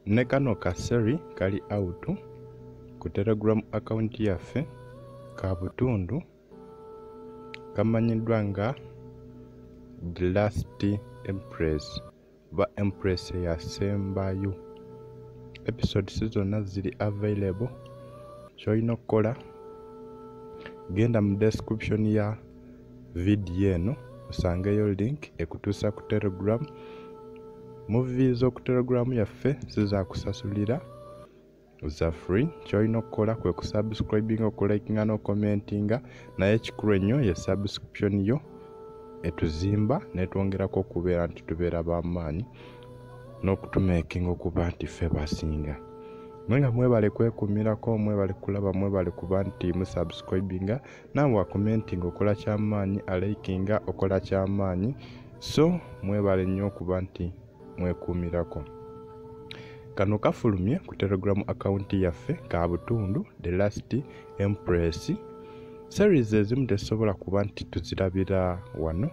ne kano ka seri kali out ku telegram account yaffe ka butundu kamanyiddwa nga the last empress ba empress eyasembayo episodes zonna ziri available kyolina okukola genda mu description ya vidiyo eno osangeyo link ekutuusa ku telegram muvi z'oku telegram yaffe zizakusasulira za free kyolina okukola kwe kusubscribinga okulikinga n'okomentinga naye ekikulu ennyo ye subscription yo etuzimba netwongerako okubeera nti tubeera bamaanyi n'okutumekinga okuba nti ffe basinga naye nga mwebale kwekumirako mwebale kulaba mwebale kuba nti musubscribinga naawe wakomentinga okola kyamaanyi alaikinga okola kyamaanyi so mwebale nnyo okuba nti mwekuumirako kano kafulumye ku telegram akawunti yaffe ka butundu the last empress series ezimu tezisobola kuba nti tuzirabira wano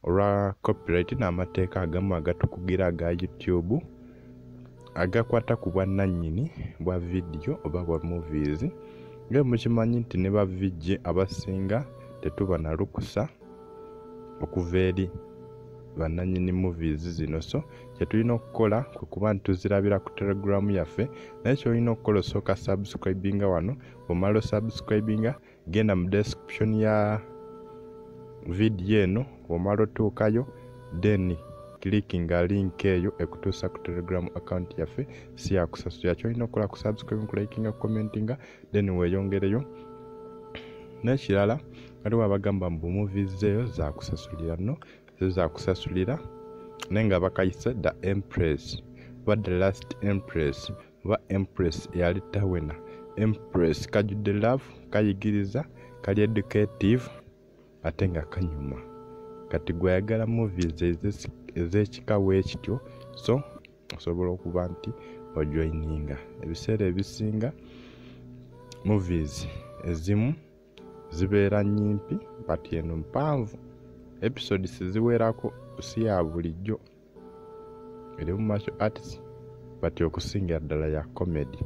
olwa copyright n'amateeka agamu agatukugira aga youtube agakwata ku bwannannyini bwa vidiyo oba bwa movies nga mukimanyi nti ne bavijje abasinga tetuba na lukusa okuva eri bannanyini movies zino so kyetulina okukola kwe kuba nti tuzirabira ku telegram yaffe naye kyolina okukola osooka subscribinga wano bwomala osubscribinga genda mu description ya vidiyo eno omala otuukayo then clickinga link eyo ekutuusa ku telegram account yaffe siyakusasula kyolina okukola ku subscribe kulikinga commentinga then weyongereyo nekirala waliwo abagamba mbu movies eyo zakusasulira no zo zakusasulira naye nga bakayise the empress but the last empress oba empress eyali tawena empress kajudde love kayigiriza kali educative ate nga kanyuma kati gweyagala movies ezekika wekityo so osobola okuba nti ojoininga ebiseera ebisinga movies ezimu zibeera nyimpi but eno mpanvu episodes ziwerako si ya bulijjo eri mu martial arts but okusingira ddala ya comedy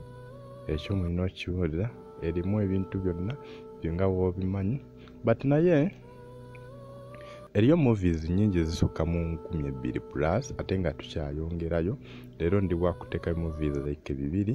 ekyo mulina okiwulira erimu ebintu byonna byonga woobimanyi but naye eriyo movies nyingi ezisukka mu nkumi ebbiri plus ate nga tukyayongerayo leero ndi wakutekayo movies like bibiri